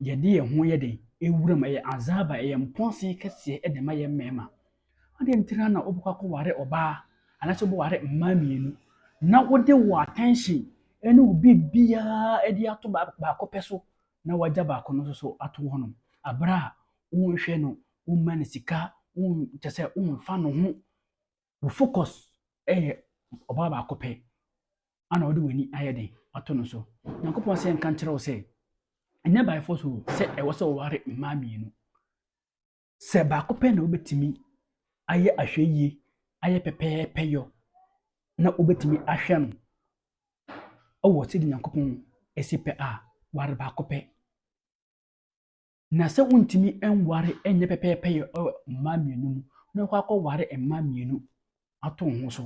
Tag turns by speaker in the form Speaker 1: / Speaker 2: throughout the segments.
Speaker 1: yɛde yɛn ho yɛ dɛn? Wuram, ɛyɛ azaaba, ɛyɛ mpɔnse kɛseɛ de ma yɛn mmarima. Adɛn nti ara na wobɛkɔ akɔware ɔbaa anaasɛ wobɛware mmaa mmienu na wode wo attention ne wo biribiara de ato baako pɛ so na wagya baako no nso so ato hɔnom berɛ a wonhwɛ no, womma no sika, kyerɛ sɛ womfa ne ho wo focus yɛ ɔbaa baako pɛ ana wode w'ani ayɛ den ato no so nyankopɔn sɛ nka nkyerɛ wo sɛ ɛnyɛ by force o sɛ ɛwɔ sɛ wɔware mmaa mmienu sɛ baako pɛ na wobɛtumi ayɛ ahwɛyie ayɛ pɛpɛɛpɛ yɔ na wobɛtumi ahwɛ no wɔ sɛde nyankopɔn ɛsi pɛ a ware baako pɛ Na sɛ wontumi nware nyɛ pɛpɛɛpɛ yɛ wɔ mmaa mmienu mu na wakɔ akɔware mmaa mmienu ato wo ho so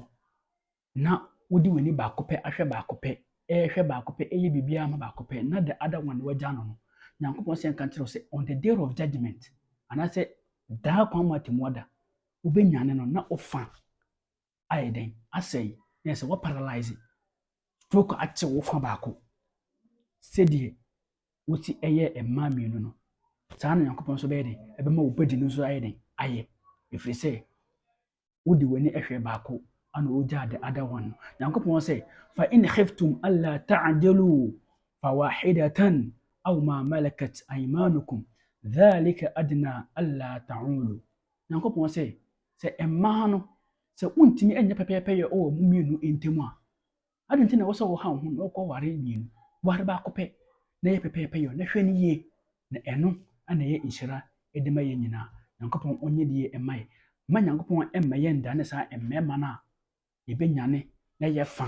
Speaker 1: na wode w'ani baako pɛ ahwɛ baako pɛ ɛrehwɛ baako pɛ ɛyɛ biribiara ma baako pɛ na the other one wagya no no nyankopɔn sɛ nka nkyerɛ sɛ on the day of judgment anaasɛ daa kwan mu atemmuada wobɛnyane no na wofa ayɛ dɛn asɛe na yɛ sɛ wɔ paralyze stroke ate wo fa baako sɛdeɛ wosi ɛyɛ mmaa mmienu no saa na nyankopɔn nso bɛyɛ dɛn ɛbɛma wo badi no nso ayɛ dɛn ayɛ ɛfiri sɛ wode w'ani ɛhwɛ baako ana wogyaa the other one no nyankopɔn sɛ fa in khiftum alla ta'dilu fa wahidatan aw ma malakat aymanukum dhalika adna alla ta'ulu Nyankopɔn sɛ, Sɛ mmaa no, sɛ wontumi nyɛ pɛpɛɛpɛyɛ wɔ mo mmienu ntam a, adɛn nti na ɛwɔ sɛ wohaw ho na wokɔware mmienu? Ware baako pɛ, na yɛ pɛpɛɛpɛyɛ, na hwɛ no yie, na ɛno na ɛyɛ nhyira de ma yɛn nyinaa. Nyankopɔn ɔnyɛ die mma yɛn. Mma Nyankopɔn mma yɛnndane saa mmarima no a yɛbɛnyane na yɛ fa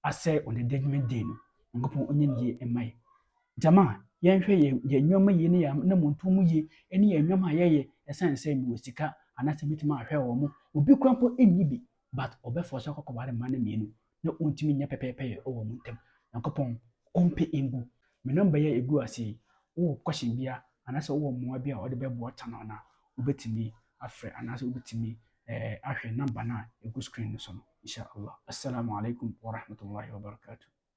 Speaker 1: asɛe ɔdede nwene den no. Nyankopɔn ɔnyɛ ne yie mma yɛ. Gyama yɛnhwɛ yɛn yɛn nneɛma yie ne yɛn anammɔntuo mu yie ɛne yɛn nneɛma a yɛyɛ ɛsiane sɛ mewɔ sika anaasɛ mɛtumi ahwɛ wɔn mo. Obi kora mpo nni bi but ɔbɛfɔ sɛ ɔkɔkɔ ware mma no mmienu na ɔntumi nyɛ pɛpɛɛpɛ yɛ wɔ mo ntam. Nyankopɔn ɔmpɛ ngu. Me number yi a ɛgu ase yi wowɔ question bia anaasɛ wowɔ mmoa bi a wode bɛboa channel no a wobɛtumi afrɛ anaasɛ wobɛtumi ahwɛ number no a ɛgu screen no so no insha Allah. As-salaamu alaikum wa rahmatullahi wa barakatuh.